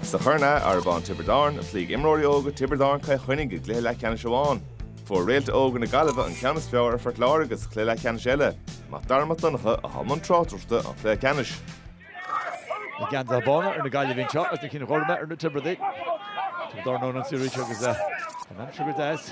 Sa Chorn Arrabawn Tiobraid Árann, chloígh imreoirí óga Tiobraid Árann Cill Chainnigh i gcluiche leathcheannais amháin. Fuair réalta óga na Gaillimhe an ceann is fearr ar Phort Láirge sa chluiche leathcheannais eile. Mac Dara Mac Donncha atá i mbun tráchtaireachta an chluiche ceannais. Na geansaithe bána ar na Gaillimhigh anseo agus na cinn ghorma ar na Tiobradaigh. Tiobraid Árann ón gclé anseo agus an aimsir go deas.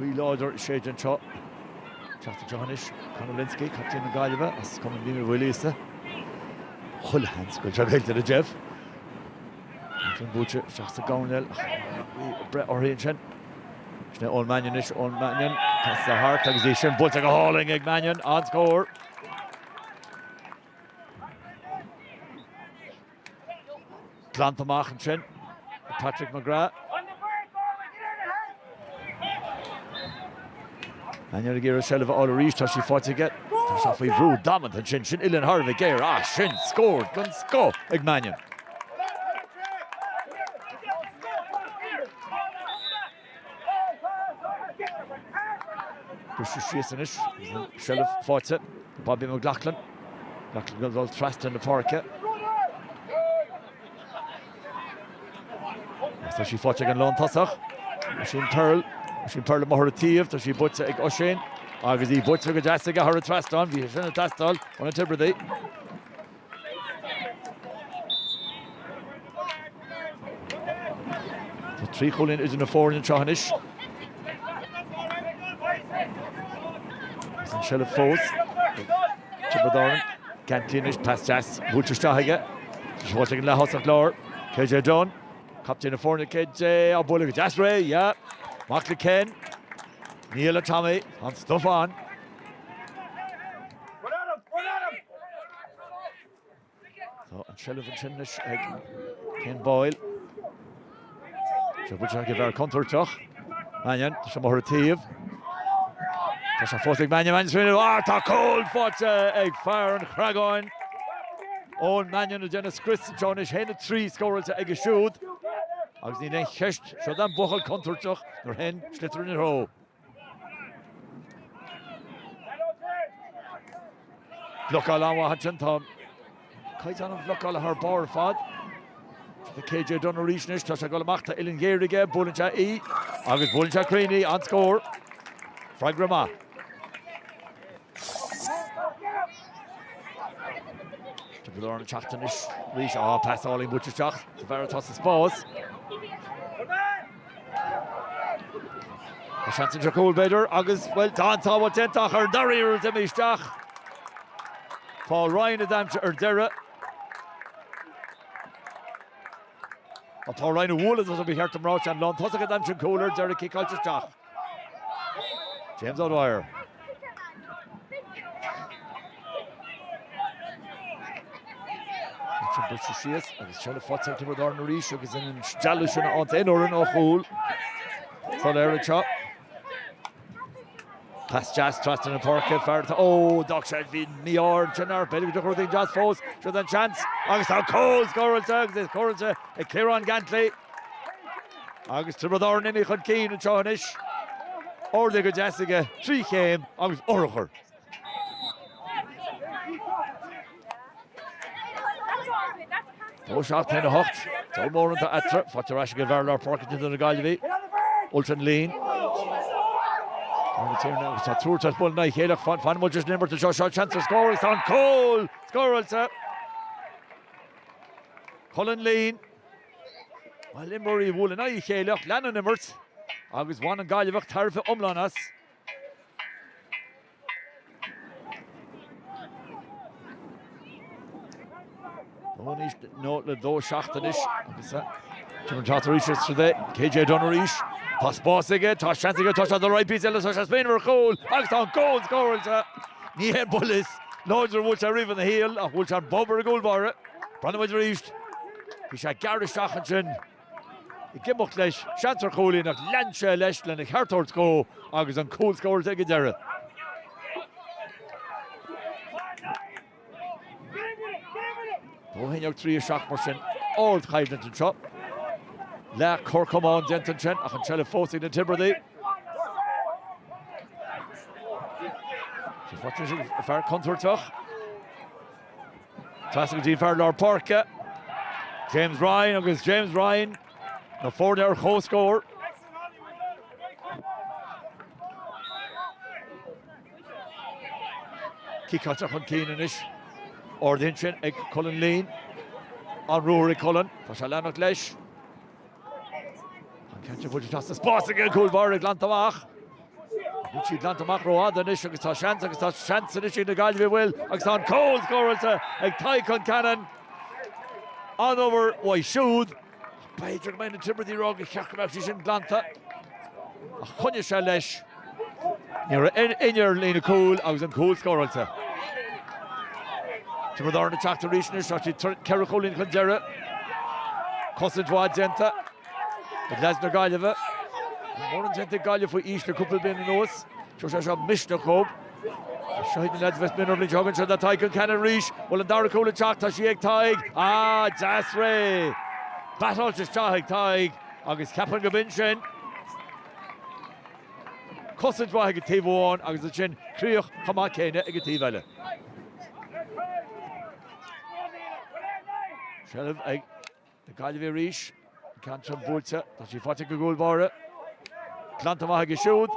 Gaoth láidir ag séideadh anseo. Teacht anseo anois, Conor Lynskey, captaen na Gaillimhe as cumann Liam Uí Mhaoilíosa. Chuile sheans go bhfuil sé buailte go deas. Ansin buailte isteach sa gcoirnéal ach bhí breith uirthi ansin. Sin é Eoin Mannion anois, Eoin Mannion, casann sé thart agus í sin buailte go hálainn ag Mannion, an-scór! Glanta amach ansin ag Patrick McGrath. Mannion ag iarraidh seilbh a fháil arís, tá sí faighte aige. Tá sé faoi bhrú damanta ansin, sin uillinn thar a bheith géar, á sin! Scór den scoth ag Mannion. Briseadh síos anois agus an seilbh faighte. Bobby McLoughlin. McLoughlin ag dul trasna na páirce. Agus tá sí faighte ag an lántosach. Oisín Pearl. Oisín Pearl imithe ar a taobh. Tá sí buailte ag Oisín. Agus í buailte go deas aige thar an trasnán. Bhí sé sin ag teastáil ó na Tiobradaigh. Tá trí chúilín idir na foirne anseo anois. Agus an seilbh fós ag Tiobraid Árann. Canty anois, pas deas buailte isteach aige. Tá sé faighte ag an leath-thosach láir, KJ Dunne. Captaen na foirne, KJ, á bualadh go deas réidh, yeah! Mac le Ken. Nia le Tommy, an-stuif ann. Tá an tseilbh ansin anois ag Ken Boyle. Sí buailte ag an bhfear contúirteach. Mannion, tá sé imithe ar a taobh. Tá sé fós ag Mannion, Mannion sa bhfuinneamh. Á, tá cúl faighte ag fear an Chreagáin. Eoin Mannion ag déanamh scrios anseo anois, aon a trí scóráilte aige siúd. Agus níl aon cheist, seo é an buachaill contúirteach nuair a théann an sliotar ina threo. Blocáil an-mhaith ansin, tá caighdeán an bhlocála thar barr ar fad. Tá KJ Dunne arís anois, tá sé ag dul amach, tá uillinn ghéar aige, buaileann sé í agus buaileann sé cruinn í, an-scór. Freagra maith. Tiobraid Árann ag teacht anois arís, á, pas álainn buailte isteach, an fear atá sa spás. Tá seans anseo cúl, b'fhéidir, agus, bhuel, tá an tsábháil déanta ach ar an dara iarraidh d'imigh isteach Paul Ryan a d'aimsigh ar deireadh. Paul Ryan a bhualadh as a bhí cheart amráte an lántosaí a d'aimsigh cúl ar deireadh cicáilte isteach. James O'Dwyer. Buailte síos agus seilbh faighte ag Tiobraid Árann arís agus an stealladh sin a fháil aon fhoireann á chúl soiléir anseo. Pas deas trasna na páirce, fear atá, ó, d'fhág sé, bhí mí-ádh ansin air, b'fhéidir go dtiocfadh rud éigin deas fós, seo an seans agus tá an cúl scóráilte agus é scóráilte ag Kieran Gantley. Agus Tiobraid Árann imithe chun cinn anseo anois. Ardaithe go deas aige trí chéim agus urchar. Dó seacht haon a hocht, Dó mar sin eatarthu, faighte ar ais ag an bhfear lár páirce de chuid na Gaillimhe, Ultan Leen. Tá a Thiarna agus tá triúr tar éis bualadh in aghaidh a chéile ach fanfaidh muid leis an imirt anseo. Seo seans ar scór agus tá an cúl scóráilte. Cullen Leen. Bhuel imreoirí a bhuail in aghaidh a chéile ach lean an imirt agus bhain an Gaillimheach tairbhe iomlán as. Dó naoi nó le dó seacht anois agus a. Timir Chattar arís as rud é, KJ Dunne arís. Tá spás aige, tá seans aige, tá sé do roinnt píosa eile, tá sé smaoineamh ar chúl agus tá an cúl scóráilte. Ní haon buille is láidre a bhuail sé riamh ina shaol ach bhuail sé an bob ar an gcúl báire. Breathnóidh muid arís! Bhí sé ag gearradh isteach ansin ag imeacht leis, seans ar chúilín, ach lean sé leis lena cheart a thabhairt dhó agus an cúl scóráilte ag an deireadh. Dó a haon déag, trí a seacht mar sin ardchoimhlint anseo. Leath cor camán déanta ansin ach an seilbh fós ag na Tiobradaigh. Tá fear contúirteach. Trasna go dtí fear lár páirce, James Ryan agus James Ryan, na foirne ar chomhscór. Ciceáilte chun cinn anois. Ardaithe ansin ag Colin Leen. An ruathar ag Colin, tá sé leanacht leis. An ceann seo buailte trasna spás ag an gcúl báire glanta amach. Níl sí glanta amach rófhada anois agus tá seans agus tá seans anois ag na Gaillimhigh an bhfuil agus tá an cúl scóráilte ag Tadhg Concannon. An-obair uaidh siúd. B'fhéidir go mbeidh na Tiobradaigh ag rá go mba cheart go mbeadh sí sin glanta. Ach choinnigh sé leis. Ní raibh éinne ar líne cúil agus an cúl scóráilte. Tiobraid Árann ag teacht arís anois ach siad ceithre chúilín chun deiridh. Cosaint mhaith déanta ag leaids na Gaillimhe. Níl mórán déanta ag Gaillimh faoi aois le cúpla bliain anuas. Seo sé seo Misneach Dhubh. Seo iad na leaids Bheith Mionn roimh bhliain seo a thugann siad le Tadhg an ceann arís. Bhuel an dara cúl ag teacht, tá sí ag Tadhg. Ah, deas réidh! Batáilte isteach ag Tadhg agus ceapann go b'in sin. cosaint mhaith ag an taobh amháin agus ansin críoch chomh maith céanna ag an taobh eile. Seilbh ag na Gaillimhigh arís. An ceann sin buailte. Tá sí faighte ag an gcúl báire. Glanta amach aige siúd.